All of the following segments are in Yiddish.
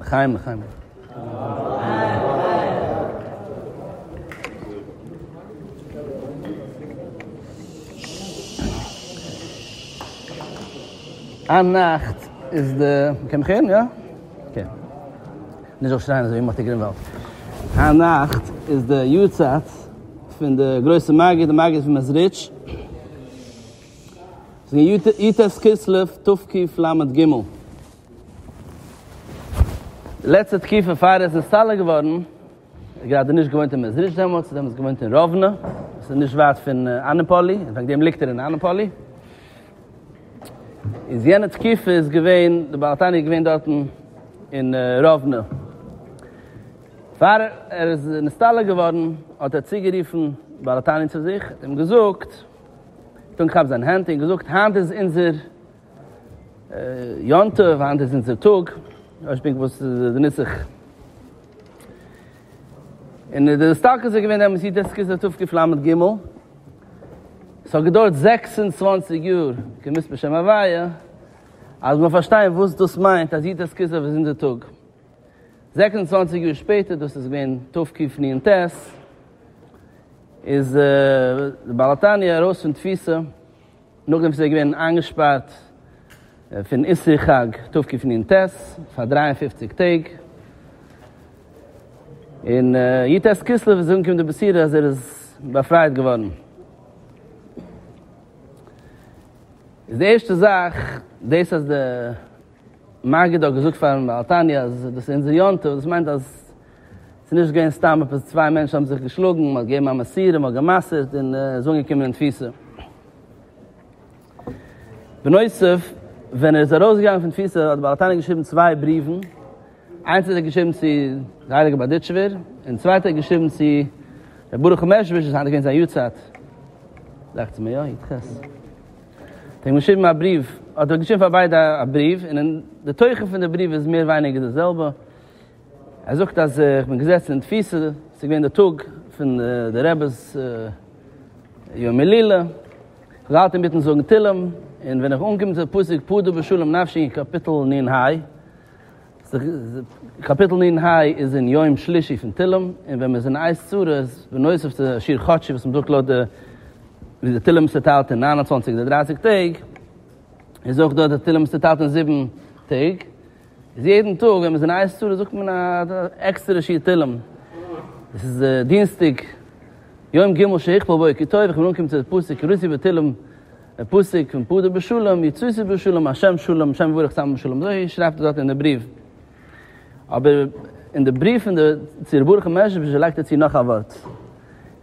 לחיים לחיים אַ נאַכט איז די, מ'קען מיך הערן? יאָ? כן. נישט זאלסט שרייען אזוי מאטי גרינוואלד. היינט נאכט איז די יארצייט פון די גרויסע מגיד, די מגיד פון מעזריטש. ס'איז געווען י ט כסלו תק ל ג. די לעצטע תקופה פאר ער איז נסתלק געווארן, ער האט גראדע נישט געוואוינט אין מעזריטש דעמאלטס, ער האט דעמאלטס געוואוינט אין ראוונע, וואס איז נישט ווייט פון אנעפאלי, וועגן דעם ליגט ער אין אנעפאלי. איז יענע תקופה איז געווען די בעל התניא איז געווען דארטן אין ראוונע. פאר ער איז נסתלק געווארן האט ער צוגערופן בעל התניא צו זיך און געזאגט, געטון כאפ זיין הענט און געזאגט, היינט איז אונזער יום טוב, היינט איז אונזער טאג, אויש פונקט וואס איז די נוסח. און די הסתלקות איז געווען אמת יתר כסלו תקפ ל ג. ס'האט געדויערט זעקס און צוואַנציק יאר כמספר שם הוויה אז מ'זאל פארשטיין וואס דאס מיינט אז יתר כסלו איז אונזער טאג. זעקס און צוואַנציק יאר שפעטער, דאס איז געווען תקפ נ ט, איז דער בעל התניא ארויס פון תפיסה. נאכדעם וואס ער איז געווען איינגעשפארט פון איסור חג תקפנ ט פאר דרײַ און פֿופֿציק טעג, און י ט כסלו איז אנגעקומען די בשורה אז ער איז באפרייט געווארן. איז די ערשטע זאך דאס אז די. מגיד האט געזאגט פארן בעל תניא אז דאס איז אונזער יום טוב, דאס מיינט אז ס'איז נישט געווען סתם עפעס צוויי מענטשן האבן זיך געשלאגן, מ'האט געגעבן א מסירה, מ'האט גע'מסר'ט און איז אנגעקומען אין תפיסה. בנוסף, ווען ער איז ארויסגעגאנגען פון תפיסה האט דער בעל התניא געשריבן צוויי בריוון, איינס האט ער געשריבן צו די הייליגע בארדיטשובער, און צווייטע האט ער געשריבן צו ר' ברוך מעזשביזש וואס היינט איז געווען זיין יארצייט, דאכצער מיר, יא, י ח. האט אים געשריבן א בריוו, האט ער געשריבן פאר ביידע א בריוו, און די תוכן פון די בריוו איז מער ווייניגער די זעלבע, ער זאגט אז איך בין געזעצן אין תפיסה, עס איז געווען די טאג פון די רעבע'ס יום הילולא, איך האב געהאלטן אינמיטן זאגן תהלים, און ווען איך אנגעקומען צו די פסוק פדו בשלום נפשי אין קאפיטל נ ה, קאפיטל ננ ה איז אין יום שלישי פון תהלים, און ווען מ'איז אין עיז צרות, בנוסף צו שיר חדשי וואס מ'זאגט לויט די ווי די תהלים איז צוטיילט אין נײַן און צוואַנציק אדער דרײַסיק טעג, איז אויך דא די תהלים איז צוטיילט אין זיבן טעג, איז יעדן טאג ווען מ'איז אין עיז צרות זאגט מען א עקסטערע שיר תהלים. עס איז דינסטאג יום ג' שהכפל בוקר טוב, איך בין אנגעקומען צו די פסוק רצי בתהלים דער פסוק פון פדה בשלום יצאתי בשלום השם שלום השם יברך צאם בשלום אזוי שרייבט ער דארט אין די בריוו אבער אין די בריוו פון די צו ר' ברוך מ'מעזשביזש לייגט ער צו נאך א ווארט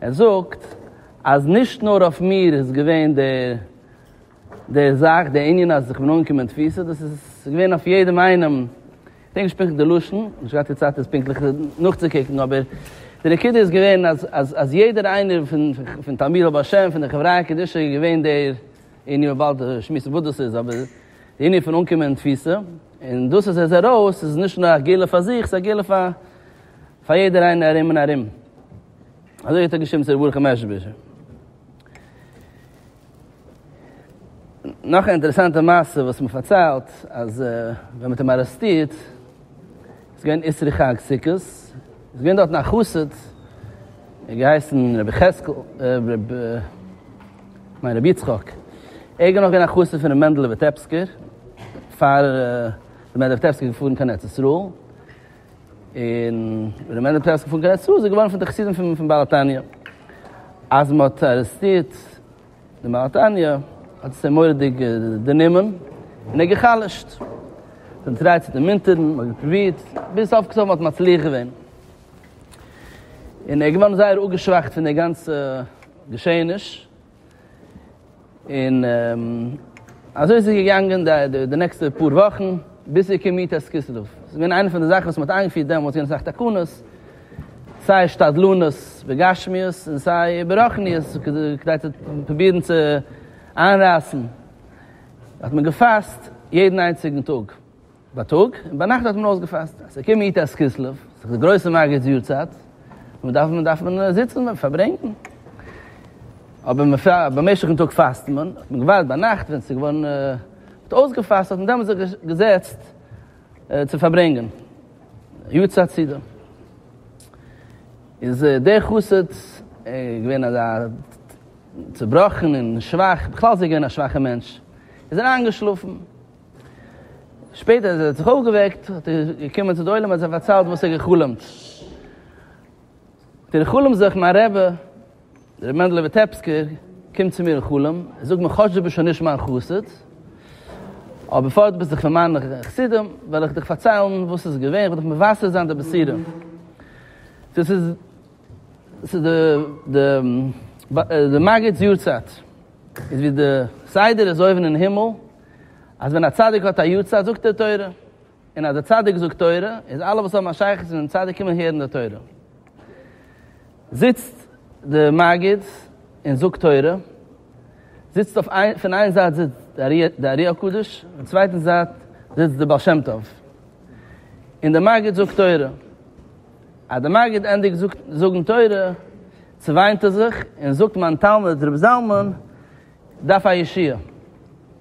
ער זאגט אז נישט נאר אויף מיר איז געווען די די זאך די ענין אז איך בין אנגעקומען אין תפיסה דאס איז געווען אויף יעדעם איינעם כ'דענק נישט פונקטליך די לשון, כ'האב נישט געהאט די צייט עס פונקטליך נאכצוקוקן, אבער די נקודה איז געווען אז אז יעדער איינער פון תלמידי רבי השם פון די חבריא קדישא איז געווען דער ענין מען באלד שמועסן וואס דאס איז, אבער די ענין פון אנקומען אין תפיסה, און דאס אז ער איז ארויס איז נישט נאר א גאולה פאר זיך, ס'איז א גאולה פאר פאר יעדער איינער ארום און ארום. אזוי האט ער געשריבן צו ר' ברוך מ'מעזשביזש. נאך א אינטערעסאנטע מעשה וואס מען פארציילט אז ווען מען האט אים ארעסטירט איז געווען איסרי חג סוכות איז געווען דארטן א חסיד ער האט געהייסן רבי חזקל ניין רבי יצחק ער איז נאך געווען א חסיד פון רבי מענדלע וויטעפסקער פאר רבי מענדלע וויטעפסקער איז געפארן קיין ארץ ישראל און ווען רבי מענדלע וויטעפסקער איז געפארן קיין ארץ ישראל איז ער געווארן פון די חסידים פון בעל התניא אז מען האט ארעסטירט די מהר תניא האט עס אים מורא'דיג דערנומען און ער גע'חלש'ט. מ'האט אים געטרייט צו דערמונטערן, מ'האט געפרובירט, ביז סוף כל סוף מ'האט מצליח געווען. און ער איז געווארן זייער אפגעשוואכט פון די גאנצע געשעעניש. און אזוי איז עס געגאנגען די נעקסטע פאר וואכן, ביז צו כ ט כסלו. ס'איז געווען איינע פון די זאכן וואס מ'האט איינגעפירט דעמאלטס, געווען אסאך תקנות, סיי שתדלנות בגשמיות און סיי ברחניות כדי צו פרובירן צו איינרייסן האט מען געפאסט יעדן איינציגן טאג בייטאג און ביינאכט האט מען אויסגעפאסט אז ס'קומט יו ט כסלו ס'איז די גרויסע מגיד'ס יארצייט און דארף מען זיצן און פארברענגן אבער במשך'ן טאג פאסט מען האט מען געווארט ביינאכט ווען ס'איז געווארן מ'האט אויסגעפאסט האט מען דעמאלטס זיך געזעצט צו פארברענגען יו ט הצדה, איז דער חסיד געווען אזא צובראכן און שוואך, בכלל איז ער געווען א שוואכער מענטש, איז ער איינגעשלאפן, שפעטער אז ער האט זיך אויפגעוועקט האט ער געקומען צו די עולם האט ער פארציילט וואס ער האט גע'חלומ'ט, האט ער גע'חלומ'ט זיך מיין רבי. רבי מענדל וויטעפסקער קומט צו מיר אין חלום, ער זאגט מיר כאטש דו ביסט שוין נישט מיין חסיד, אבער בפאר דו ביסט דאך פון מיינע חסידים, וועל איך דיך פארציילן וואס ס'איז געווען, איך וועל דיך מבשר זיין די בשורה. דאס איז ס'איז די מגיד'ס יארצייט, איז ווי די סדר איז אויבן אין הימל, אז ווען א צדיק האט א יארצייט זאגט ער תורה, און אז דער צדיק זאגט תורה, איז אלע וואס האבן א שייכות צו דעם צדיק קומען הערן די תורה. זיצט די מגיד און זאגט תורה, זיצט אויף איין, פון איין זייט זיצט די ארי הקדוש, און צווייטן זייט זיצט די בעל שם טוב. און די מגיד זאגט תורה. אז די מגיד ענדיגט זאגן תורה, צעוויינט ער זיך און זאגט מיין תלמיד רבי זלמן דארף א ישועה.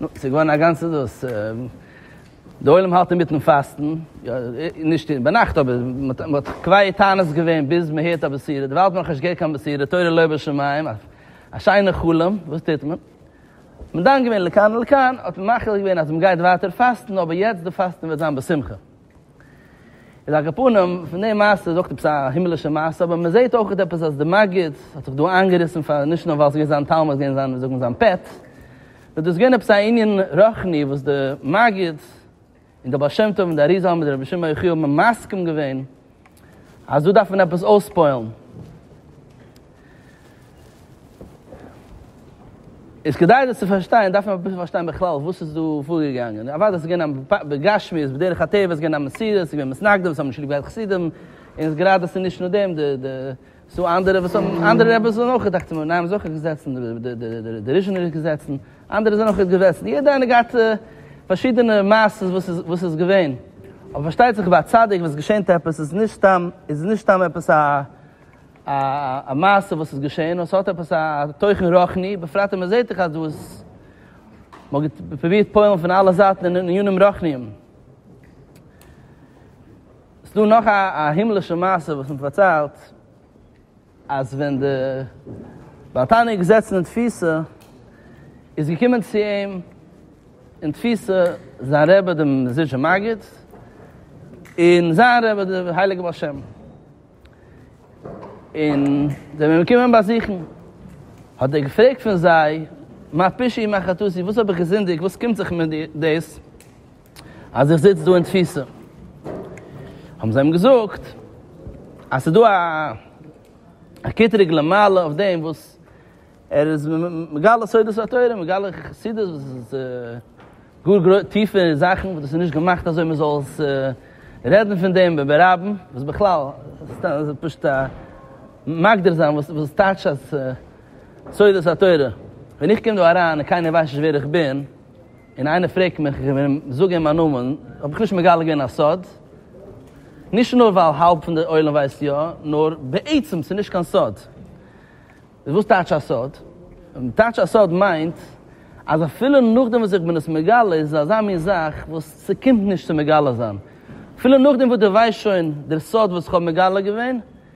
נו, ס'איז געווארן א גאנצע דאס. דער עולם האלט אינמיטן פאסטן, נישט ביינאכט אבער מ'האט קווייעט טענות געווען ביז מ'הערט א בשירה, דערווייל האט מען נאכנישט געהערט קיין בשירה, תורה לא בשמים, א שיינע חלום, וואס טוט מען? מ'דן געווען לכאן ולכאן, האט מען מחליט געווען אז מ'גייט ווייטער פאסטן, אבער יעצט די פאסטן וועט זיין בשמחה. איז על כל פנים, פון די מעשה איז אויך עפעס א הימלישע מעשה, אבער מען זעהט אויך עפעס אז די מגיד האט זיך דא איינגעריסן פאר נישט נאר ווייל ס'איז געווען זיין תלמיד, ס'איז געווען זיין ווי זאגט מען זיין פעט, נאר דאס איז געווען עפעס א ענין רוחני וואס די מגיד און די בעל שם טוב און די אריזל האבן מיט רבי שמעון יחיאל מסכים געווען, אז דא דארף מען עפעס אויספועלן. איז כדי דאס צו פארשטיין דארף מען אביסל פארשטיין בכלל וואס איז דא פארגעגאנגען. אוודאי ס'איז געווען א בגשמיות בדרך הטבע איז געווען א מסירות, ס'איז געווען מתנגדים, ס'האבן נישט ליב געהאט חסידים, און איז גראדע ס'איז נישט נאר דעם, די ס'דא אנדערע וואס האבן אנדערע רעבעס זענען אויך דאכט מיר נייעם זוכער געזעצן די ריזשינער געזעצן אנדערע זענען אויך געזעצן יעדע איינער געהאט פארשידענע מעשות וואס איז וואס איז געווען אבער פארשטייט זיך ביי א צדיק ווען עס געשענט עפעס איז נישט סתם איז נישט סתם עפעס א א א מעשה וואס איז געשען נאר ס'האט עפעס א תוכן רוחני בפרט אז מ'זעהט דאך אז דא איז מ'האט פרובירט פועל'ן פון אלע זייטן אין עניינים רוחניים. ס'דא נאך א הימלישע מעשה וואס מען פארציילט, אז ווען די בעל תניא איז געזעצן אין תפיסה, איז געקומען צו אים אין תפיסה זיין רבי דער מזידשער מגיד, און זיין רבי דער הייליגער בעל שם, און זיי זענען געקומען אים באזוכן, האט ער געפרעגט פון זיי, מה פשעי מה חטאתי, וואס האב איך געזינדיגט, וואס קומט זיך מיר דאס? אז איך זיץ דא אין תפיסה, האבן זיי אים געזאגט אז ס'איז דא א קטרוג למעלה אויף דעם וואס ער איז מגלה סודות התורה, מגלה חסידות וואס איז גאר גרויס טיפע זאכן וואס דאס איז נישט געמאכט אזוי מען זאל עס רעדן פון דעם ב ב רבים, וואס בכלל סתם פשוט א מגדיר זיין וואס וואס טייטש אז סודות התורה, ווען איך קום דא אריין און קיינער ווייסט נישט ווער איך בין. און איינער פרעגט מיך, איך וועל אים זאגען מיין נאמען, האב איך נישט מגלה געווען א סוד, נישט נאר ווייל האלב פון די עולם ווייסט יא, נאר בעצם ס'איז נישט קיין סוד. וואס טייטש א סוד? טייטש א סוד מיינט אז אפילו נאכדעם וואס איך בין עס מגלה איז עס אזא מין זאך וואס ס'קומט נישט צו מגלה זיין. אפילו נאכדעם וואס דו ווייסט שוין דער סוד וואס איך האב מגלה געווען,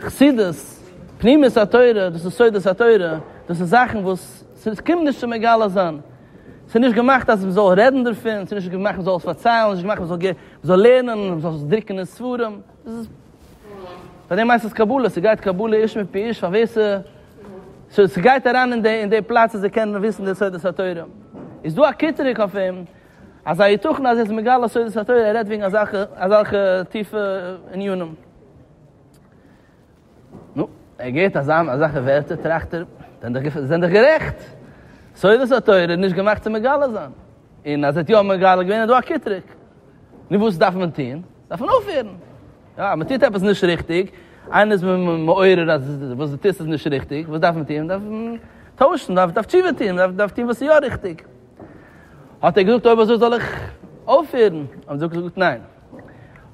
חסידות, פנימיות התורה, דאס איז סודות התורה, דאס איז זאכן וואס ס'איז קומט נישט צו מגלה זיין, ס'איז נישט געמאכט אז מען זאל רעדן דערפון, ס'איז נישט געמאכט מען זאל עס פארציילן, ס'איז נישט געמאכט מען זאל מען זאל לערנען, מען זאל עס דרוקן אין ספרים, דאס איז, פאר דעם הייסט עס קבלה, ס'גייט קבלה איש מפי איש, פאר ווער ס'גייט אריין אין די פלאץ אז ער קען וויסן די סודות התורה, איז דא א קיטרוג אויף אים, אזא היתכן אז ער איז מגלה סודות התורה און רעדט וועגן אזעלכע טיפע ענינים? נו, ער געהערט אזעלכע ווערטער טראכט ער, זיי זענען דאך גערעכט, סודות התורה איז נישט געמאכט צו מגלה זיין, און אז ער האט יא מגלה געווען איז דא א קיטרוג. נו וואס דארף מען טון? דארף מען אויפהערן. יא, מען טוט עפעס נישט ריכטיג, איינער איז מעורר אז וואס דו טוסט איז נישט ריכטיג, וואס דארף מען טון? מען דארף טוישן, מען דארף תשובה טון, מען דארף טון וואס איז יא ריכטיג. האט ער געזאגט אויב אזוי זאל איך אויפהערן, האט זי געזאגט ניין,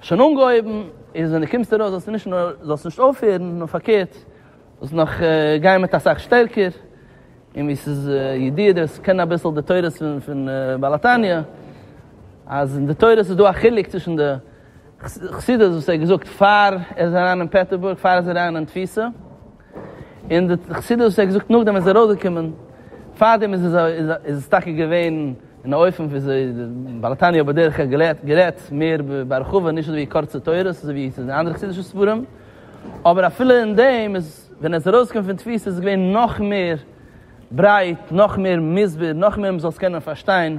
האסט שוין אנגעהויבן איז ווען די קומסט ארויס זאלסטו נישט נאר זאלסט נישט אויפהערן נאר פארקערט זאלסט נאך גיין מיט אסאך שטערקער, און ווי ס'איז ידוע די וואס קענען אביסל די תורות פון בעל התניא אז אין די תורות איז דא א חילוק צווישן די חסידות וואס ער האט געזאגט פאר ער איז אריין אין פעטערבורג פאר ער איז אריין אין תפיסה, און די חסידות וואס ער האט געזאגט נאכדעם איז ארויסגעקומען, פארדעם איז עס איז עס טאקע געווען אין א אופן וויאזוי די בעל התניא האט בדרך כלל געלערט גערעדט מער בהרחבה נישט אזויווי קורצע תורות אזויווי ס'איז אין אנדערע חסידישע ספרים, אבער אפילו אין דעם איז ווען ער איז ארויסגעקומען פון תפיסה איז עס געווען נאך מער ברייט נאך מער מסביר נאך מער מ'זאל עס קענען פארשטיין.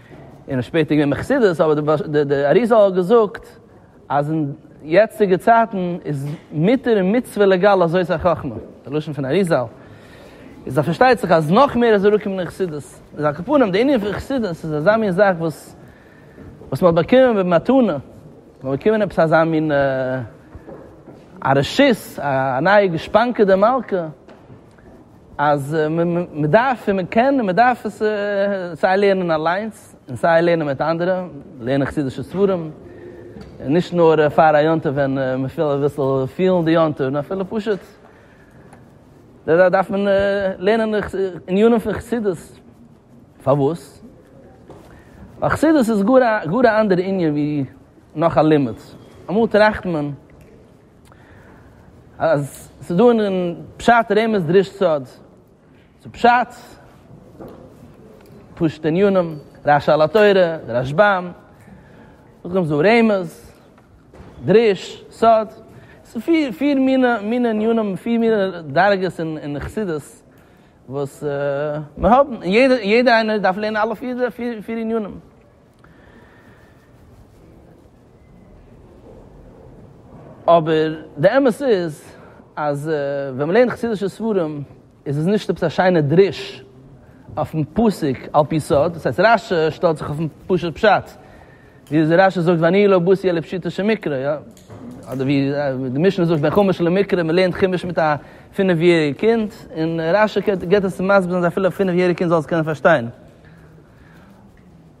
און האט שפעטער געווען בחסידות, אבער די אריזל האט געזאגט אז אין יעצטיגע צייטן איז מותר און מצוה לעגאל אזוי איז החכמה, די לשון פון אריזל איז אז פארשטייט זיך אז נאך מער איז אראפגעקומען אין חסידות, איז על כל פנים די ענין פון חסידות איז אזא מין זאך וואס וואס מ'האט באקומען במתנה, מ'האט באקומען עפעס אזא מין א רשות, א נייע גושפנקא דמלכא. אז מען דארף און מען קען און מען דארף עס סיי לערנען אליינס און סיי לערנען מיט אנדערע, לערנען חסידישע ספרים, נישט נאר פאר א יום טוב ווען מען וויל אביסל פילן די יום טוב, נאר אפילו פשוט דארף מען לערנען ענינים פון חסידות, פארוואס? ווייל חסידות איז גאר א אנדערע ענין ווי נאך א לימוד, אמאל טראכט מען. אז ס'איז דא אין פשט רמז דרש סוד, ס'איז פשט, פשוט'ע ענינים, רש א על התורה, די רשב ם, נאכדעם איז דא רמז, דרש, סוד, ס'איז פיר פיר מינע ענינים, פיר מינע דרגות אין חסידות, וואס מ'האבן, און יעדער איינער דארף לערנען אלע פיר ענינים. אבער די אמת איז אז ווען מען לערנט חסידישע ספרים איז עס נישט עפעס א שיינע דרוש אויפן פסוק על פי סוד, דאס הייסט רש ש שטעלט זיך אויפן פשוט פשט, ווי רש ש זאגט ואני לא בוסי אלא פשיטא של מקרא, יא, אדער ווי די משנה זאגט בין חומש למקרא, מען לערנט חומש מיט א פינף יעריג קינד, און רש ש געבט עס צו מסביר זיין אז אפילו א פינף יעריג קינד זאל עס קענען פארשטיין.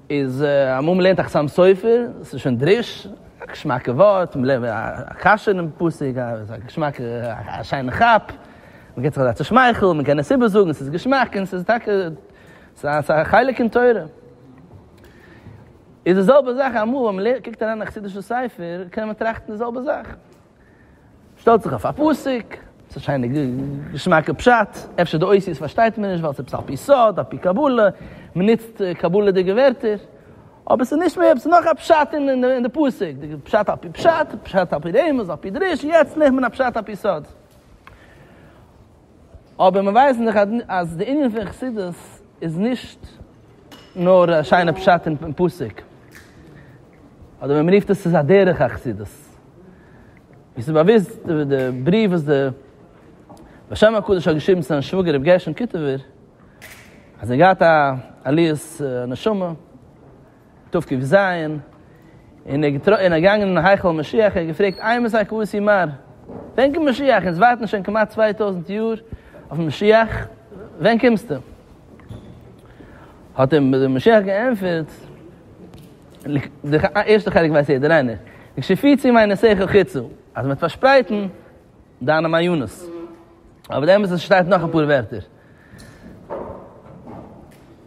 איז אמאל מ'לערנט א חתם סופר, ס'איז שוין דריש, א געשמאקע ווארט, מ'לערנט א קשיא אינעם פסוק, א געשמאקע, א שיינע כאפ, מ'געט זיך אזא צושמייכל, מ'קען עס איבערזאגן, ס'איז געשמאק, און ס'איז טאקע, ס'איז א חלק אין תורה. איז די זעלבע זאך אמאל ווען מ'קוקט אריין אין א חסידישע ספר, קען מען טראכטן די זעלבע זאך. שטעלט זיך אויף א פסוק, ס'איז א שיינע געשמאקע פשט, אפשר די אותיות פארשטייט מען נישט ווייל ס'איז עפעס על פי סוד, על פי קבלה, מ'נוצט קבלה'דיגע ווערטער, אבער ס'איז נישט מער, ס'נאך א פשט אין די פסוק, די פשט על פי פשט, פשט על פי רמז, על פי דרוש, יעצט לערנט מען א פשט על פי סוד. אבער מיר ווייסן דאך אז די ענין פון חסידות איז נישט נאר א שיינע פשט אין פסוק, אדער ווי מען רופט עס איז א דרך החסידות, ווי ס'איז באוויסט די בריוו וואס די בעל שם הקדוש האט געשריבן צו זיין שוואגער רבי גרשון קיטובער אז ער האט געהאט א עליית נשמה, תקפ ז, און ער איז געגאנגען אין היכל המשיח און ער האט געפרעגט, איי מסייע כבשי מר. ווען קומט משיח? אונז ווארטן שוין כמעט צוויי טויזנט יאר אויף משיח, ווען קומסטו? האט אים דער משיח געענטפערט, די ערשטע חלק ווייסט יעדער איינער, לקשיפיצי מיינע שכל חיצו, אז מ'וועט פארשפרייטן דיינע מעיונות. אבער די אמת איז עס שטייט נאך אפאר ווערטער.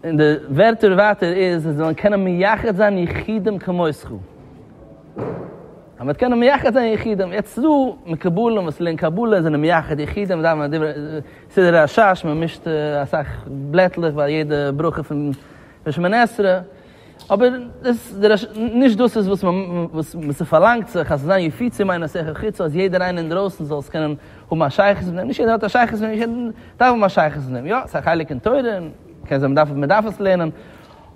און די ווערטער ווייטער איז, זיי זאלן קענען מייחד זיין יחידים כמותך. אז מען וועט קענען מייחד זיין יחידים, יעצט איז דא מקובלים וואס לערנען קבלה, זענען מייחד יחידים, דאווענען דברי סידור השש, מען מישט אסאך בלעטלעך ביי יעדע ברכה פון שמונה עשרה, אבער דאס איז נישט דאס וואס וואס ס'פארלאנגט זיך אז זיין יפיצי מיינט אז ס'העכער חוץ אז יעדער איינער אינדרויסן זאל עס קענען האבן א שייכות מיט אים, נישט יעדער האט א שייכות מיט אים, נישט יעדער דארף האבן א שייכות מיט אים, יא ס'איז א חלק אין תורה און מ'קען זיי מ'דארף מ'דארף עס לערנען,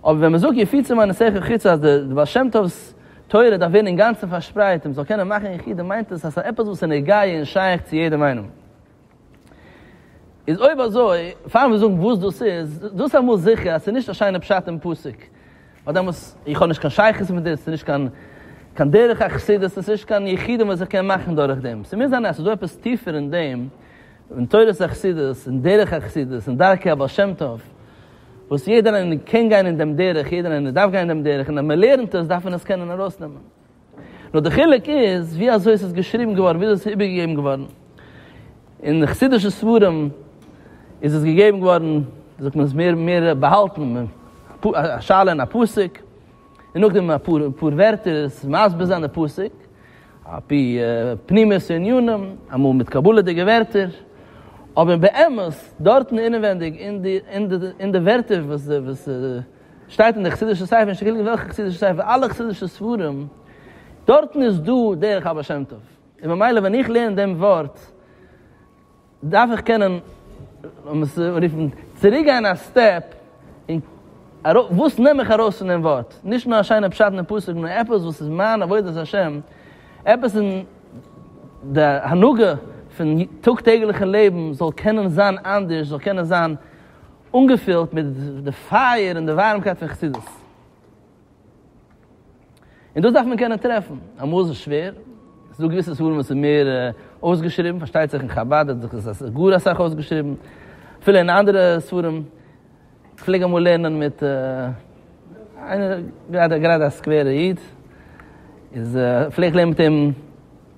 אבער ווען מ'זאגט יפיצי מיינט אז ס'העכער חוץ אז דער בעל שם טוב'ס תורה דארף ווערן אינגאנצן פארשפרייט און מ'זאל קענען מאכן יחידים מיינט עס אז ס'איז עפעס וואס איז נוגע און שייך צו יעדעם איינעם. איז אויב אזוי, פאר מיר זאגן וואס דאס איז, דאס אמאל זיכער אז ס'איז נישט א שיינע פשט אין פסוק, ווייל דעמאלס, איך האב נישט קיין שייכות מיט דאס, ס'איז נישט קיין קיין דרך החסידות, ס'איז נישט קיין יחידים וואס איך קען מאכן דורך דעם, ס'מוז זיין אז ס'דא עפעס טיפער אין דעם, אין תורת החסידות, אין דרך החסידות, אין דרכי הבעל שם טוב, וואס יעדער איינער קען גיין אין דעם דרך, יעדער איינער דארף גיין אין דעם דרך, און אז מ'לערנט עס דארף מען עס קענען ארויסנעמען. נאר די חילוק איז ווי אזוי עס איז געשריבן געווארן, ווי אזוי עס איז איבערגעגעבן געווארן. אין די חסידישע ספרים איז עס געגעבן געווארן, ווי זאגט מען עס, מער מער באהאלטן, א שאלה און א פסוק, און נאכדעם אפאר אפאר ווערטער עס מסביר זיין די פסוק, על פי פנימיות הענינים, אמאל מיט קבלה'דיגע ווערטער, אבער באמת דארטן אינעווייניג אין די אין די ווערטער וואס די וואס די. שטייט אין די חסידישע ספר, נישט געלונגען וועלכע חסידישע ספר, אלע חסידישע ספרים, דארטן איז דא דרך הבעל שם טוב, און ממילא ווען איך לערן דעם ווארט, דארף איך קענען, לאמיר עס רופן, צוריק גיין א סטעפ, און ארויף, וואס נעם איך ארויס פון דעם ווארט, נישט נאר א שיינע פשט אין א פסוק, נאר עפעס וואס איז מיין עבודת השם, עפעס אין די הנהגה פון טאג טעגליכע לעבן זאל קענען זיין אנדערש, זאל קענען זיין אנגעפילט מיט די פייער און די ווארעמקייט פון חסידות. און דאס דארף מען קענען טרעפן. אמאל איז עס שווער, עס איז דא געוויסע ספרים וואס איז מער אויסגעשריבן, פארשטייט זיך אין חבד האט זיך עס גאר אסאך אויסגעשריבן, אפילו אין אנדערע ספרים, כ'פלעג אמאל לערנען מיט איינער, גראדע א סקווערע איד, איז פלעג איך לערנען מיט אים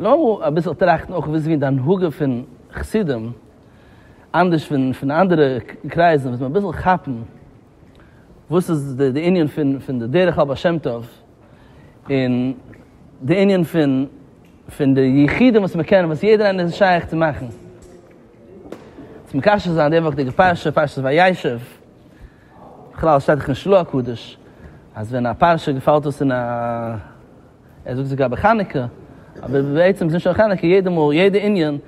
לאמיר אביסל טראכטן אויך וויאזוי די הנהגה פון חסידים, אנדערש פון אנדערע קרייזן וואס מ'וועט אביסל כאפן וואס איז די ענין פון די דרך הבעל שם טוב, און די ענין פון די יחידים וואס מ'קען וואס יעדער איינער איז שייך צו מאכן. צו מקשר זיין די וואכדיגע פרשה, פרשת וישב. בכלל שטייט דאך אין של ה הקדוש אז ווען א פרשה געפאלט אויס אין א, ער זאגט זאגאר ביי חנוכה, אבער בעצם איז נישט נאר חנוכה, יעדע מאל, יעדע ענין,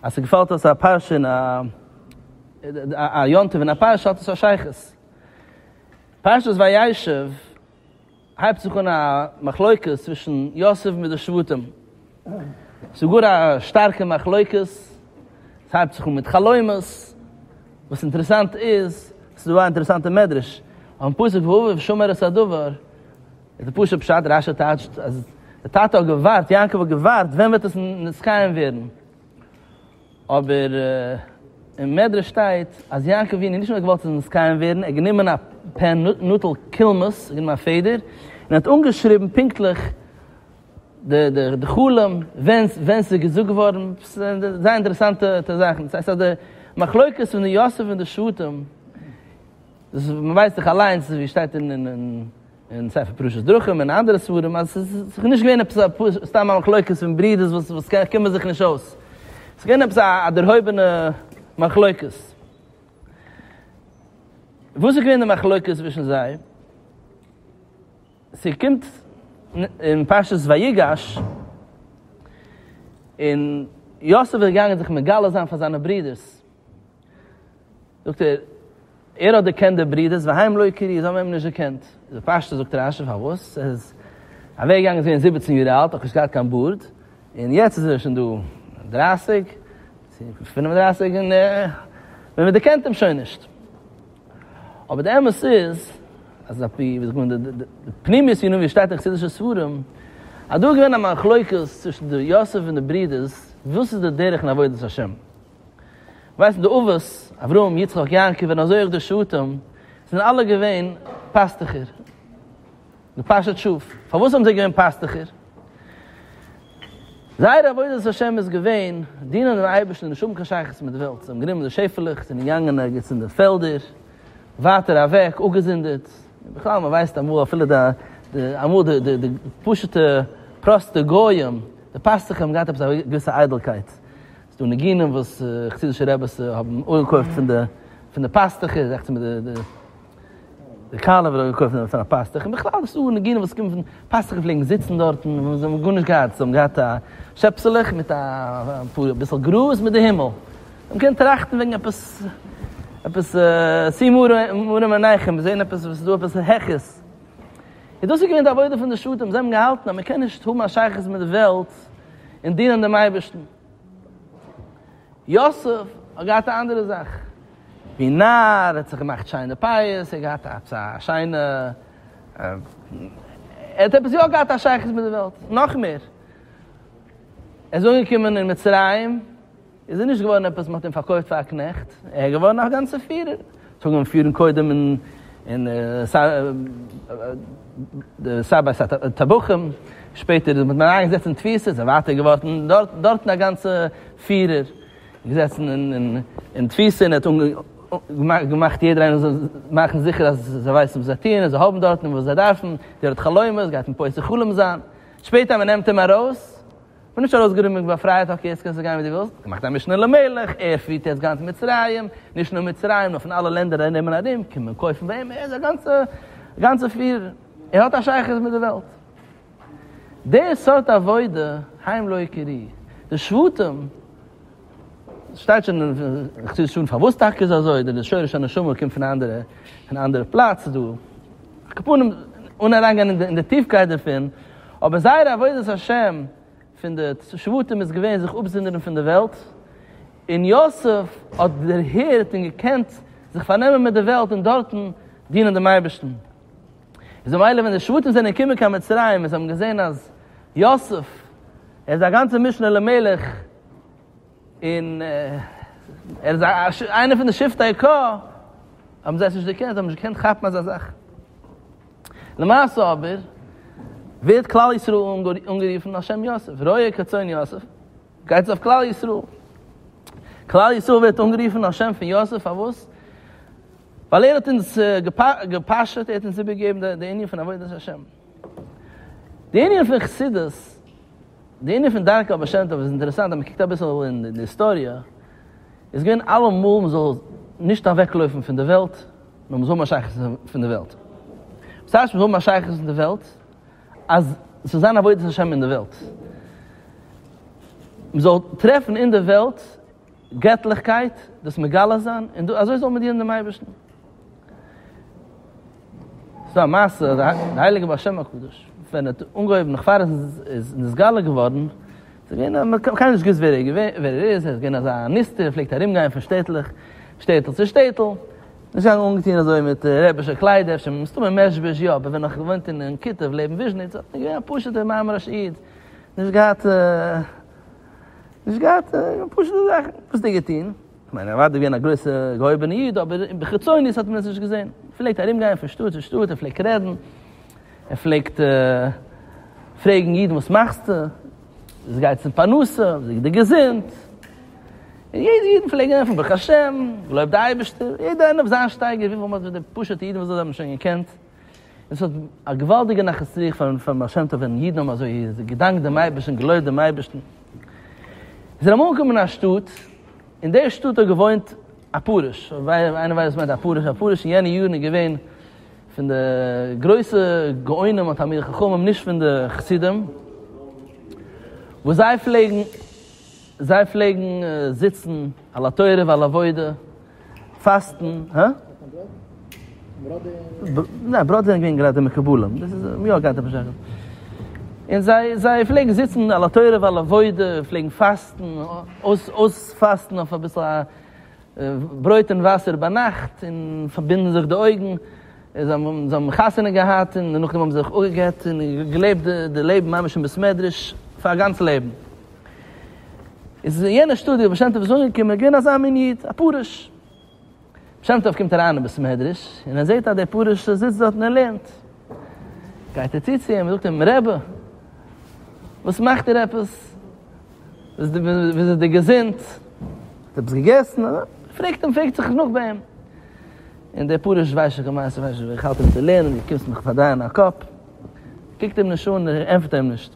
אז ס'געפאלט אויס א פרשה אין א, א יום טוב אין א פרשה האט עס א שייכות. פרשת וישב. הייבט זיך אן א מחלוקה צווישן יוסף מיט די שבטים, ס'איז גאר א שטארקע מחלוקה, ס'הייבט זיך אן מיט חלומות, וואס אינטערעסאנט איז, ס'איז דא א אינטערעסאנטע מדרש, אויפן פסוק ואביו שמר את הדבר, איז די פשוט פשט, רש י טייטשט אז די טאטע האט געווארט, יעקב האט געווארט, ווען וועט עס נתקיים ווערן? אבער אין מדרש שטייט אז יעקב אבינו האט נישט נאר געוואלט זיך מזקן ווערן, ער האט גענומען א פען, נוטל קולמוס, גענומען א פעדער, און האט אנגעשריבן פונקטליך די חלום, ווען ס'איז געזאגט געווארן, זייער אינטערעסאנטע זאכן. דאס הייסט אז די מחלוקת פון די יוסף און די שבטים, דאס ווייסט זיך אליינס ווי שטייט אין אין ספר פרשת דרכים אין אנדערע ספרים אז עס איז נישט געווען עפעס א פשוט סתם א מחלוקת פון ברידערס וואס קומען זיך נישט אויס, עס איז געווען עפעס א דערהויבענע מחלוקת. וואס איז געווען די מחלוקת צווישן זיי? ס'קומט אין פרשת ויגש, און יוסף איז געגאנגען זיך מגלה זיין פאר זיינע ברידערס, זאגט ער, ער האט דערקענט די ברידערס, והאם לא הכירי, זיי האבן אים נישט דערקענט. איז ער פשטות זאגט רש י פארוואס, ער איז אוועק געגאנגען זיבעצן יאר אלט, נאך נישט געהאט קיין בארד, און יעצט איז ער שוין דא דרייסיג, צו פֿינף און דרײַסיק, און מען דערקענט אים שוין נישט. אבער די אמת איז, אז אפי' ווי זאגט מען, די פנימיות פון ווי שטייט אין חסידישע ספרים, אז דא איז געווען א מחלוקת צווישן די יוסף און די ברידערס, וואס איז די דרך אין עבודת השם. ווייסן די אבות, אברהם, יצחק, יעקב, און אזוי אויך די שבטים, זענען אלע געווען פאסטוכער, געפאשעט שאף. פארוואס האבן זיי געווען פאסטוכער? זייער עבודת השם איז געווען דינען דעם אייבערשטן, נישט האבן קיין שייכות מיט די וועלט. זיי האבן גענומען די שעפעלעך, זענען געגאנגען ערגעץ אין די פעלדער, ווייטער אוועק, אפגעזונדערט. בכלל, מען ווייסט אמאל אפילו די, די, אמאל די, די, די פשוט'ע, פראסטע גויים, די פאסטוכער האבן געהאט עפעס א געוויסע איידלקייט. ס'איז דא ניגונים וואס חסידישע רעבעס האבן אנגעקויפט פון די פון די פאסטעך איז עכט מיט די די קאלעווער האט אנגעקויפט פון א פאסטעך און בכלל ס'איז דא ניגונים וואס קומען פון פאסטעך פלעגן זיצן דארט און זיי האבן גארנישט געהאט זיי האבן געהאט א שעפסעלעך מיט א פאר אביסל גראז מיט די הימל און מ'קען טראכטן וועגן עפעס עפעס צו מראה מעיניכם מיר זעהן עפעס ס'איז דא עפעס העכערס און דאס איז געווען די עבודה פון די שטן זיי האבן געהאלטן אז מ'קען נישט האבן א שייכות מיט די וועלט און דינען דעם אייבערשטן. יוסף האט געהאט א אנדערע זאך, ווי נאר ער האט זיך געמאכט שיינע פאות, ער האט געהאט עפעס א שיינע, ער האט עפעס יא געהאט א שייכות מיט די וועלט, נאך מער, ער איז אנגעקומען אין מצרים, איז ער נישט געווארן עפעס, מען האט אים פארקויפט פאר א קנעכט, ער איז געווארן א גאנצער פירער, צוגעבן און פירן קודם אין אין די סייד ביי סייד טבחים, שפעטער האט מען אריין געזעצט אין תפיסה, זיי ווייטער געווארטן דארט, דארטן א גאנצע פירער געזעצן אין תפיסה און ער האט געמאכט יעדער איינער זאל מאכן זיכער אז זיי ווייסן וואס זיי טוען און זיי האבן דארטן וואס זיי דארפן, דער האט חלומות, גייט אים פוסק חלום זיין, שפעטער אז מען נעמט אים ארויס, כ'בין נישט ארויסגערומען געווען פרייע טאקע יעצט קענסטו גיין ווי דו ווילסט, געמאכט א משנה למלך, ער פירט יעצט גאנץ מצרים, נישט נאר מצרים נאר פון אלע לענדער ארום און ארום קומען קויפן ביי אים, ער איז א גאנצע גאנצע פירער, ער האט א שייכות מיט די וועלט. די סארט עבודה, היים לא יכירי, די שבטים, שטייט שוין אין חסידות שוין פארוואס טאקע איז אזוי די שורש הנשמה קומט פון אנדערע פון אנדערע פלאץ דא קאפונעם אן אריינגיין אין די טיפקייט דערפון אבער זייער עבודת השם פון די שבטים איז געווען זיך אפזונדערן פון די וועלט און יוסף האט דערהערט און געקענט זיך פארנעמען מיט די וועלט און דארטן דינען דעם אייבערשטן איז ממילא ווען די שבטים זענען געקומען קיין מצרים און זיי האבן געזען אז יוסף ער איז א גאנצע משנה למלך. און ער איז איינער פון די שבטי ק, האבן זיי עס נישט דערקענט, זיי האבן נישט געקענט כאפן אזא זאך. למעשה אבער, ווערט כלל ישראל אנגערופן על שם יוסף, ראה כצאן יוסף, גייטס אויף כלל ישראל. כלל ישראל ווערט אנגערופן על שם פון יוסף, פארוואס? ווייל ער האט אונז געפאשעט, ער האט אונז איבערגעגעבן די ענין פון עבודת השם. די ענין פון חסידות. די ענין פון דרכי הבעל שם טוב איז אינטערעסאנט אז מען קוקט אביסל אין די היסטאריע איז געווען אלעמאל מען זאל נישט אוועקלויפן פון די וועלט נאר מען זאל האבן א שייכות פון די וועלט וואס הייסט מען זאל האבן א שייכות פון די וועלט אז ס'זאל זיין עבודת השם אין די וועלט מען זאל טרעפן אין די וועלט געטליכקייט, דאס מגלה זיין, און דא אזוי זאל מען דינען דעם אייבערשטן. ס'איז דא א מעשה אז די הייליגע בעל שם הקדוש ווען ער האט אנגעהויבן נאך פאר עס איז נתגלה געווארן, ס'איז געווען אז מ'האט קיינמאל נישט געוואוסט ווער ער איז, ער איז געווען אזא נסתר, ער פלעגט ארומגיין פון שטעטלעך, שטעטל צו שטעטל, נישט געגאנגען אנגעטון אזוי מיט רבי'שע קליידער, אפשר מסתמא מעזשביזש יא, אבער ווען ער האט געוואוינט אין קיטוב לעבן וויזשניץ, איז ער געווען א פשוט'ער מארמארישע איד, נישט געהאט. נישט געהאט פשוט'ע זאכן וואס צו געטון, כ'מיין ער איז אוודאי געווען א גרויסע געהויבענע איד אבער בחיצונית האט מען עס נישט געזען, ער פלעגט ארום גיין פון שטאט צו שטאט, ער פלעגט רעדן, ער פלעגט פרעגן אידן וואס מאכסטו? וויאזוי גייט עס אין פרנסה? וויאזוי איז די געזונט? און יעדע איד פלעגט אים ענטפערן ברוך השם, געלויבט די אייבערשטער, יעדער איינער אויף זיין שטייגער, וויפיל מאל האט די פשוט'ע אידן וואס זיי האבן שוין געקענט, עס האט א געוואלדיגע נחת רוח פארן בעל שם טוב ווען אידן האבן אזוי געדאנקט דעם אייבערשטן און געלויבט דעם אייבערשטן. זיי זענען אמאל אנגעקומען אין א שטאט, אין דער שטאט האט געוואוינט א פרוש, איינער ווייסט וואס מיינט א פרוש? א פרוש אין יענע יארן איז געווען פון די גרויסע גאונים און תלמידי חכמים, נישט פון די חסידים וואס זיי פלעגן, זיי פלעגן זיצן על התורה ועל עבודה, פאסטן, הא? ניין, בראדע זענען געווען גראדע מקובלים, דאס איז יא געהאט עפעס שייכות. און זיי, זיי פלעגן זיצן על התורה ועל עבודה, פלעגן פאסטן, אויס, אויספאסטן אויף אביסל א ברויט און וואסער ביינאכט, און פארבינדן זיך די אויגן, און זיי האבן, זיי האבן חתונה געהאט, און דערנאך האבן זיי זיך אפגע'גט, און געלעבט די לעבן ממש אין בית מדרש, פאר א גאנץ לעבן. איז אין יענע שטודיע וואס שם טוב איז אנגעקומען איז געווען אזא מין איד, א פרוש. שם טוב קומט אריין אין בית מדרש, און ער זעט אז דער פרוש זיצט דארט און ער לערנט. גייט ער צו צו אים און זאגט אים, רבי, וואס מאכט איר עפעס? ווי איז די געזונט? האט עפעס געגעסן? פרעגט אים, פרעגט זיך נאך ביי אים. און דער פרוש ווייסט שוין קיין מעשה, איך האלט אים צו לערנען, דו קומסט מיך פארדרייען א קאפ. קוקט אים נישט אן, ענטפערט אים נישט.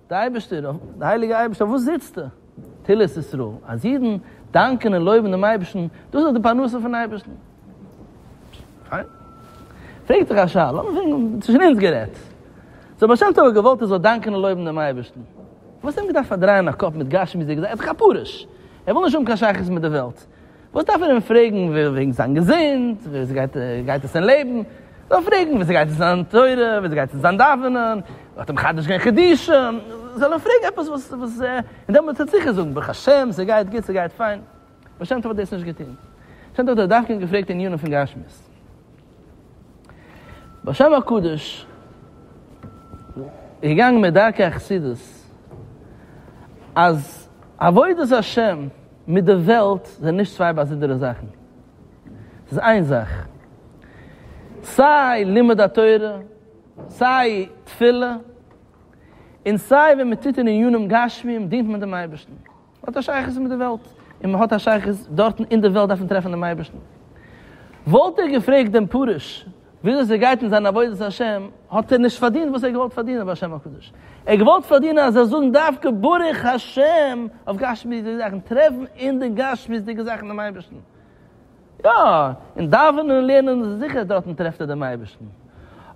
דער אייבערשטער, דער הייליגער אייבערשטער, אויף וואס זיצטו? תהילות ישראל, אז אידן דאנקען און לויבן דעם אייבערשטן, דאס איז די פרנסה פונעם אייבערשטן. פיין. פרעגט דיך א שאלה, לאמיר פרעגן, צווישן אונז גערעדט, זאל בעל שם טוב האט געוואלט ער זאל דאנקען און לויבן דעם אייבערשטן, וואס האט אים געדארפט פארדרייען א קאפ מיט גשמיות'דיגע זאכן? ער האט דאך כפרות, ער וויל נישט האבן קיין שייכות מיט די וועלט, וואס דארף מען אים פרעגן וועגן זיין געזונט, ווי גייט עס אין לעבן, זאל ער פרעגן ווי אזוי גייט עס זיין תורה, ווי אזוי גייט עס זיין דאווענען, מ'האט אים מחדש געווען חידושים, זאל ער פרעגן עפעס וואס וואס, און דעמאלטס וועט ער זיכער זאגן ברוך השם ס'גייט גוט ס'גייט פיין, בעל שם טוב האט דאס נישט געטון, בעל שם טוב האט דווקא געפרעגט עניינים פון גשמיות. בשם הקדוש איז געגאנגען מיט דרכי החסידות אז עבודת השם מיט די וועלט זענען נישט צוויי באזונדערע זאכן, ס'איז איין זאך. סיי לימוד התורה, סיי תפילה, און סיי ווען מען טוט אין ענינים גשמיים דינט מען דעם אייבערשטן. האט א שייכות מיט די וועלט, און מען האט א שייכות דארטן אין די וועלט דארף מען טרעפן דעם אייבערשטן. וואלט ער געפרעגט דעם פרוש וויאזוי ער גייט אין זיין עבודת השם, האט ער נישט פארדינט וואס ער האט געוואלט פארדינען ביי השם הקדוש, ער האט געוואלט פארדינען אז ער זאל זאגן דווקא ברוך השם אויף גשמיות'דיגע זאכן, טרעפן אין די גשמיות'דיגע זאכן דעם אייבערשטן. יא, אין דאווענען און לערנען איז זיכער דארטן טרעפט ער דעם אייבערשטן,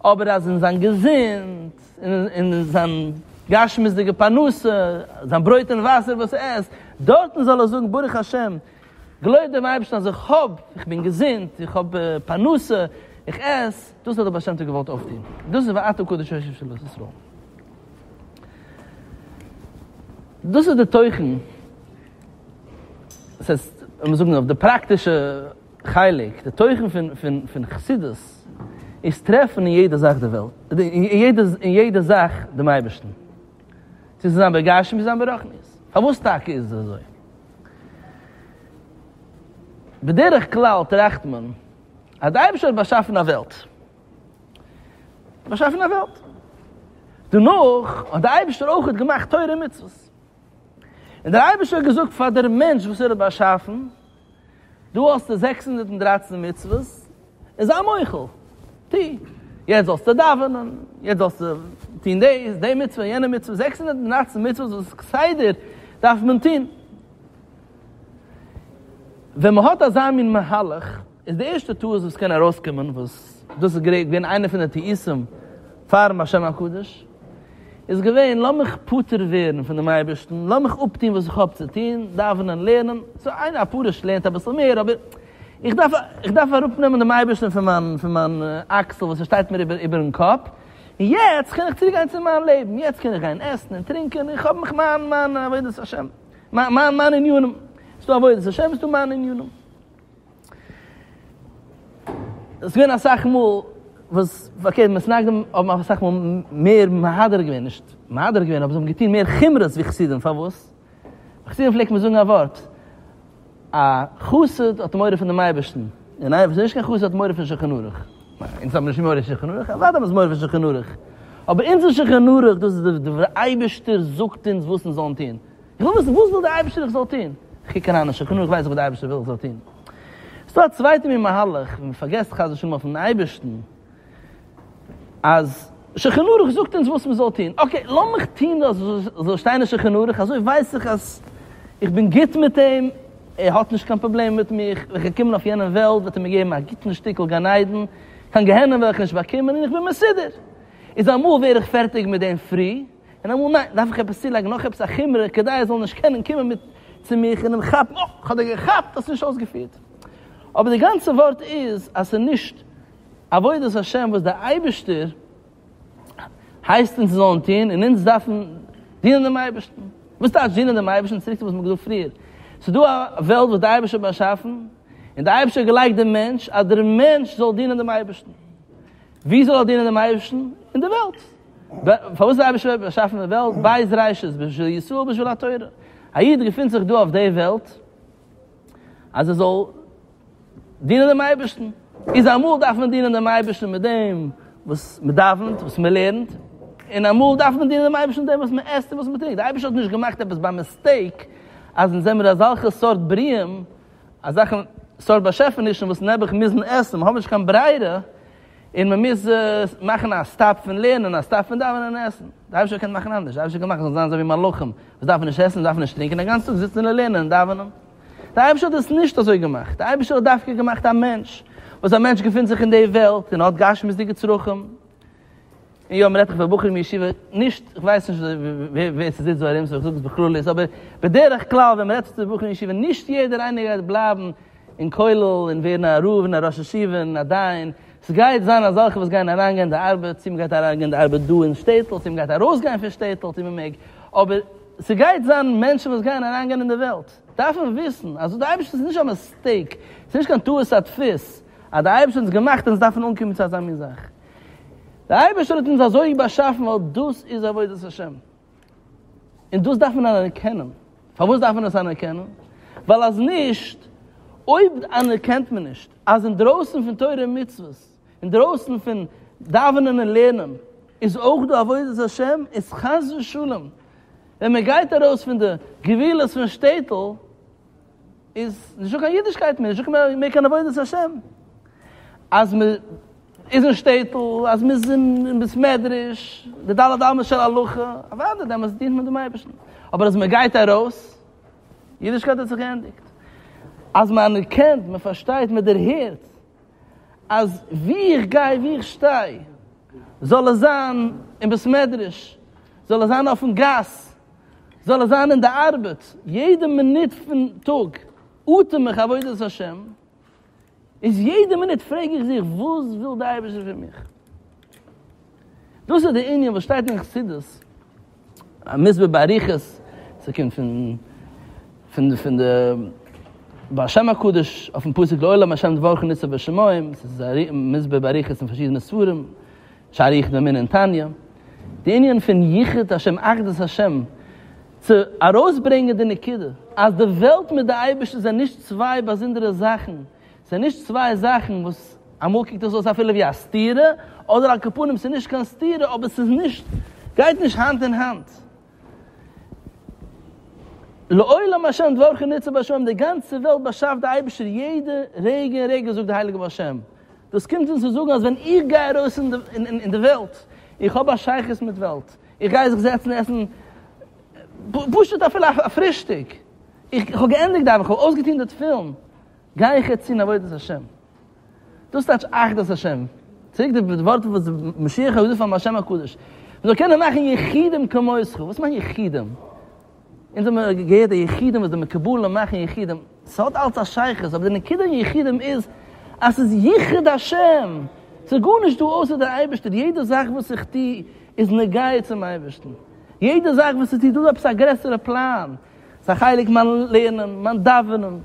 אבער אז אין זיין געזונט, אין זיין גשמיות'דיגע פרנסה, זיין ברויט און וואסער וואס ער עסט, דארטן זאל ער זאגן ברוך השם, געלויבט דעם אייבערשטן אז איך האב, איך בין געזונט, איך האב פרנסה, איך עס, דאס האט דער בעל שם טוב געוואלט אויפטון, דאס איז ואתו קדוש השם של בית ישראל. דאס איז דער תוכן דאס הייסט, לאמיר זאגן אויף די פראקטישע חלק, די תוכן פון פון פון חסידות איז טרעפן אין יעדע זאך די וועלט, אין יעדע אין יעדע זאך דעם אייבערשטן. צו זיין בגשמיות צו זיין ברוחניות. פארוואס טאקע איז עס אזוי? בדרך כלל טראכט מען אז דער אייבערשטער האט באשאפן א וועלט. באשאפן א וועלט. דערנאך האט דער אייבערשטער אויך געמאכט תורה און מצוות. און דער אייבערשטער האט געזאגט פאר דער מענטש וואס ער האט באשאפן, דא האסטו זעקס הונדערט און דרײַצן מצוות, און זיי מוחל, טו, יעצט זאלסטו דאווענען, יעצט זאלסטו טון דאס, די מצוה, יענע מצוה, זעקס הונדערט און דרײַצן מצוות וואס איז כסדר דארף מען טון. ווען מען האט אזא מין מהלך, איז די ערשטע טעות וואס קען ארויסקומען, וואס דאס איז געווען איינע פון די טעותים פאר'ן השם הקדוש, איז געווען לאמיך פטור ווערן פון דעם אייבערשטן, לאמיך אפטון וואס איך האב צו טון, דאווענען, לערנען, סאו איינער א פרוש לערנט אביסל מער, אבער איך דארף איך דארף אראפנעמען דעם אייבערשטן פון מיין פון מיין אקסל וואס עס שטייט מיר איבער איבער'ן קאפ, און יעצט קען איך צוריקגיין צו מיין לעבן, יעצט קען איך גיין עסן און טרינקען, איך האב מיך מיין מיין עבודת השם, מיין מיין ענינים, ס'דא עבודת השם, ס'דא מיינע ענינים. עס איז געווען אסאך מאל וואס אקעי מתנגדים האבן אסאך מאל מער מהדר געווען נישט מהדר געווען אבער זיי האבן געטון מער חומרות ווי חסידים פארוואס? ביי חסידים פלעגט מען זאגן א ווארט א חסיד האט מורא פון דעם אייבערשטן און איינער וואס איז נישט קיין חסיד האט מורא פון שולחן ערוך. אונז האבן נישט מורא פון שולחן ערוך? אוודאי האבן אונז מורא פון שולחן ערוך אבער אונזער שולחן ערוך דאס איז דער אייבערשטער זאגט אונז וואס אונז זאלן טון. וויל וויסן וואס וויל דער אייבערשטער איך זאל טון? איך קוק אריין אין שקנו איך ווייס וואס דער אייבערשטער וויל איך זאל טון. ס'דא א צווייטע מין מהלך ווי מ'פארגעסט חס ושלום אויפן אייבערשטן אז שכן ערוך זאגט אונז וואס מ'זאל טון, אקעי לאמיך טון דאס וואס ס'זאל שטיין אין שכן ערוך אזוי ווייס איך אז איך בין גוט מיט אים, ער האט נישט קיין פראבלעם מיט מיך, ווען כ'וועל קומען אויף יענע וועלט וועט ער מיר געבן א גוטן שטיקל גן עדן, קיין גיהנום וועל איך נישט באקומען און איך בין מסודר. איז אמאל ווער איך פערטיג מיט דעם פרי. און אמאל ניין, דארף איך עפעס צולייגן נאך עפעס א חומרא כדי ער זאל נישט קענען קומען מיט צו מיך און אים כאפן, אה, כ'האב דיר געכאפט, האסט נישט אויסגעפירט. אבער די גאנצע ווארט איז אז ס'איז נישט עבודת השם וואס דער אייבערשטער הייסט אונז זאלן טון, און אונז דארפן דינען דעם אייבערשטן. וואס טייטש דינען דעם אייבערשטן? צוריק צו וואס מ'האט געזאגט פריער. ס'איז דא א וועלט וואס דער אייבערשטער האט באשאפן, און דער אייבערשטער האט געלייגט דעם מענטש אז דער מענטש זאל דינען דעם אייבערשטן. וואו זאל ער דינען דעם אייבערשטן? אין דער וועלט. פארוואס האט דער אייבערשטער באשאפן די וועלט? בית ראשית בשביל ישראל בשביל התורה. א איד געפינט זיך דא אויף די וועלט אז ער זאל דינען דעם אייבערשטן. איז אמאל דארף מען דינען דעם אייבערשטן מיט דעם וואס מען דאווענט, וואס מען לערנט, און אמאל דארף מען דינען דעם אייבערשטן מיט דעם וואס מען עסט און וואס מען טרינקט. דער אייבערשטער האט נישט געמאכט עפעס ביי מיסטעיק אז אונז זעמיר אזעלכע סארט בריאים, אזעלכע סארט באשעפענישן וואס נעבעך מוזן עסן, מיר האבן נישט קיין ברירה, און מען מוז מאכן א סטאפ פון לערנען, א סטאפ פון דאווענען און עסן. די אייבערשטער האט געקענט מאכן אנדערש, די אייבערשטער האט געמאכט זיי זאלן זיין אזוי ווי מלאכים, וואס דארפן נישט עסן, דארפן נישט טרינקען, א גאנץ טאג זיצן און לערנען און דאווענען. די אייבערשטער האט עס נישט אזוי געמאכט, די אייבערשטער האט דווקא געמאכט א מענטש, וואס א מענטש געפינט זיך אין די וועלט און האט גשמיות'דיגע צרכים, היום רעדט איך פאר בחורים אין ישיבה, נישט, איך ווייס נישט ווער ס'זיצט דא ארום סאו איך זאג עס בכלליות, אבער בדרך כלל ווען מ'רעדט צו בחורים אין ישיבה, נישט יעדער איינער גייט בלייבן אין כולל און ווערן א רב און א ראש ישיבה און א דיין, ס'גייט זיין אזעלכע וואס גייען אריינגיין די ארבעט, צו מ'גייט אריינגיין די ארבעט דא אין שטעטל, צו מ'גייט ארויסגיין פון שטעטל צו מ'מעג, אבער ס'גייט זיין מענטשן וואס גייען אריינגיין אין די וועלט, דארף מען וויסן אז די אייבערשטער איז נישט א מיסטעיק, ס'נישט קיין טעות הדפוס, אז די אייבערשטער האט אונז געמאכט און אונז דארף מען אנקומען צו אזא מין זאך. דער אייבערשטער האט אונז אזוי באשאפן ווייל דאס איז עבודת השם, און דאס דארף מען אנערקענען. פארוואס דארף מען עס אנערקענען? ווייל אז נישט, אויב אנערקענט מען נישט אז אינדרויסן פון תורה און מצוות, אינדרויסן פון דאווענען און לערנען, איז אויך דא עבודת השם, איז חס ושלום ווען מען גייט ארויס פון די גבולות פון שטעטל, איז נישטא קיין אידישקייט מער, נישטא מער קיין עבודת השם. אז מען איז אין שטעטל, אז מען איז אין בית מדרש, די ד' אמות של הלכה, אוודאי דעמאלטס דינט מען דעם אייבערשטן. אבער אז מען גייט ארויס, אידישקייט האט זיך געענדיגט. אז מען אנערקענט, מען פארשטייט, מען דערהערט, אז וואו איך גיי, וואו איך שטיי, זאל עס זיין אין בית מדרש, זאל עס זיין אויפן גאס, זאל ער זיין אין די ארבעט, יעדע מינוט פון טאג אטעם איך עבודת השם, איז יעדע מינוט פרעג איך זיך וואס וויל די אייבערשטער פון מיך? דאס איז די ענין וואס שטייט אין חסידות, א מסביר באריכות, ס'קומט פון פון די פון די בעל שם הקדוש אויפן פסוק לעולם השם דברך ניצב בשמים, ס'איז מסביר באריכות אין פארשידענע ספרים, שאריך דעם ענין תניא, די ענין פון ייחוד השם אחדות השם, צו ארויסברענגען די נקודה אז די וועלט מיט די אייבערשטער זענען נישט צוויי באזונדערע זאכן, ס'איז נישט צוויי זאכן וואס אמאל קוקט עס אויס אפילו ווי א סתירה, אדער על כל פנים ס'איז נישט קיין סתירה אבער ס'איז נישט, גייט נישט האנט אין האנט. לעולם השם דברך נצור בשמים, די גאנצע וועלט באשאפט די אייבערשטער יעדע רגע און רגע זאגט די הייליגע בעל שם, דאס קומט אונז צו זאגן אז ווען איך גיי ארויס אין די וועלט, איך האב א שייכות מיט וועלט, איך גיי זיך זעצן עסן פשוט אפילו א פרישטאג, איך האב געענדיגט דאווענען, איך האב אויסגעטון די תפילין, גיי איך יעצט טון עבודת השם. דאס טייטש אחדות השם. צוריק די ווארט וואס משיח האט געזאגט פארן בר שם הקדוש, מ'זאל קענען מאכן יחידים כמותך, וואס מיינט יחידים? אונז האמיר געהערט די יחידים וואס די מקובלים מאכן יחידים, ס'האט אלס א שייכות, אבער די נקודה אין יחידים איז אז ס'איז יחוד השם, ס'איז גארנישט דא אויסער די אייבערשטער, יעדע זאך וואס איך טו איז נוגע צום אייבערשטן, יעדע זאך וואס איך טו איז דא עפעס א גרעסערע פלאן, ס'איז א חלק מיין לערנען, מיין דאווענען.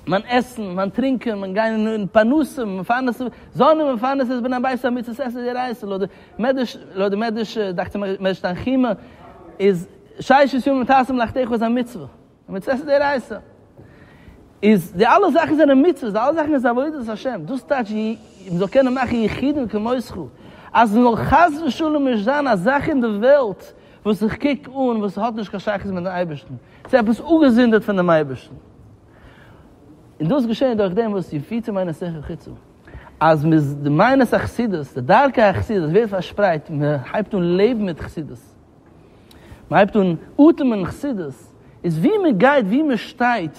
מיין עסן, מיין טרינקען, מיין גיין אין פרנסה, מפרנס זון ומפרנס את בן הבית על מצות עשה זרע ישראל, לויט די מדרש, לויט די מדרש, דאכט זיך מדרש תנחומא, איז ששת ימים תעשה מלאכתך איז א מצוה, על מצות עשה זרע ישראל. איז די אלע זאכן זענען מצוות, די אלע זאכן איז עבודת השם, דאס טייטש מען זאל קענען מאכן יחידים כמותך, אז מען זאל חס ושלום נישט זיין א זאך אין די וועלט וואס איך קוק אן וואס האט נישט קיין שייכות מיט'ן אייבערשטן. צו עפעס אפגעזונדערט פון דעם אייבערשטן, און דאס געשעהן דורך דעם וואס איר פירט צו מיינע שכל חיצו, אז מען איז די מיינע החסידות, די דרכי החסידות ווערט פארשפרייט, מען הייבט אן לעבן מיט חסידות, מען הייבט אן אטעמען חסידות, איז ווי מען גייט, ווי מען שטייט,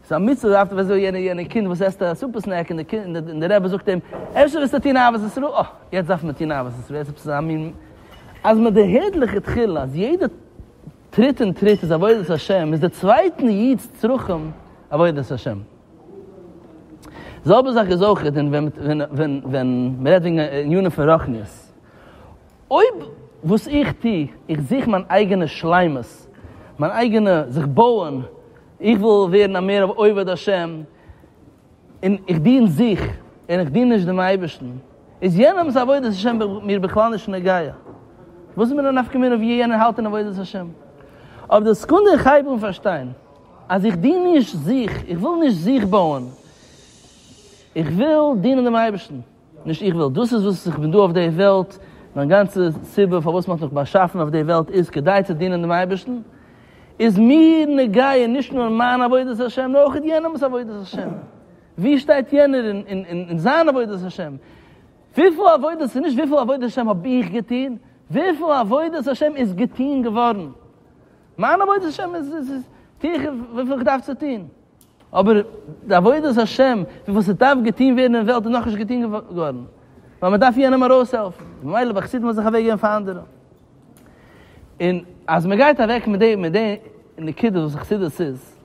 ס'איז א מצוה דארפסטו ווען אזוי יענע יענע קינד וואס עסט א סופער סנעק און די רבי זאגט אים אפשר וועסטו טון אהבת ישראל אה יעצט דארף מען טון אהבת ישראל עפעס אזא מין אז מען דערהערט לכתחילה אז יעדע טריט און טריט איז עבודת השם איז די צווייטן איד'ס צרכים עבודת השם. די זעלבע זאך איז אויך ווען ווען ווען מען רעדט וועגן ענינים פון רוחניות אויב וואס איך טו איך זוך מיין אייגענע שלימות מיין אייגענע זיך בויען איך וויל ווערן א מער עובד השם, און איך דין זיך, און איך דין נישט דעם אייבערשטן, איז יענעמ'ס עבודת השם מיר בכלל נישט נוגע. וואס איז מיר א נפקא מינה ווי יענער האלט אין עבודת השם? אויף די סעקונדע איך הייב אן פארשטיין אז איך דין נישט זיך, איך וויל נישט זיך בויען, איך וויל דינען דעם אייבערשטן. נישט איך וויל, דאס איז וואס איך בין דא אויף די וועלט, מיין גאנצע סיבה פארוואס מען האט מיך באשאפן אויף די וועלט איז כדי צו דינען דעם אייבערשטן, איז מיר נוגע נישט נאר מיין עבודת השם נאר אויך יענעמ'ס עבודת השם, ווי שטייט יענער אין זיין עבודת השם, וויפיל עבודה, ס'איז נישט וויפיל עבודת השם האב איך געטון, וויפיל עבודת השם איז געטון געווארן, מיין עבודת השם איז, טו איך וויפיל איך דארף צו טון. אבער די עבודת השם פון וואס ס'דארף געטוהן ווערן אין וועלט איז נאכנישט געטוהן געווארן, ווייל מ'דארף יענעם ארויסהעלפן, ממילא ביי חסידים האט זיך אוועקגעגעבן פאר אנדערע. און אז מ'גייט אוועק מיט די מיט די נקודה וואס חסידות איז,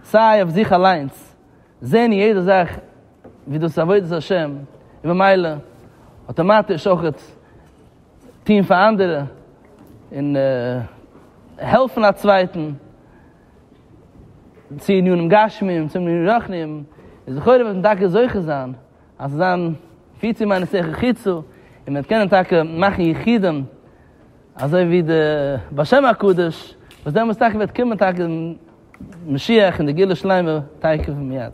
סיי אויף זיך אליינס, זעהן יעדע זאך ווי דאס איז עבודת השם, און ממילא אטאמאטיש אויך טוהן פאר אנדערע, און העלפן א צווייטן, צו ענינים גשמיים צו ענינים רוחניים, איז לכאורה וועט מען טאקע זוכה זיין אז ס'זאל זיין פיצי מיינע שכל חיצו, און מ'וועט קענען טאקע מאכן יחידים אזוי ווי די בעל שם הקדוש, וואס דעמאלטס טאקע וועט קומען טאקע משיח און די גאולה שלימה תיכף ומיד.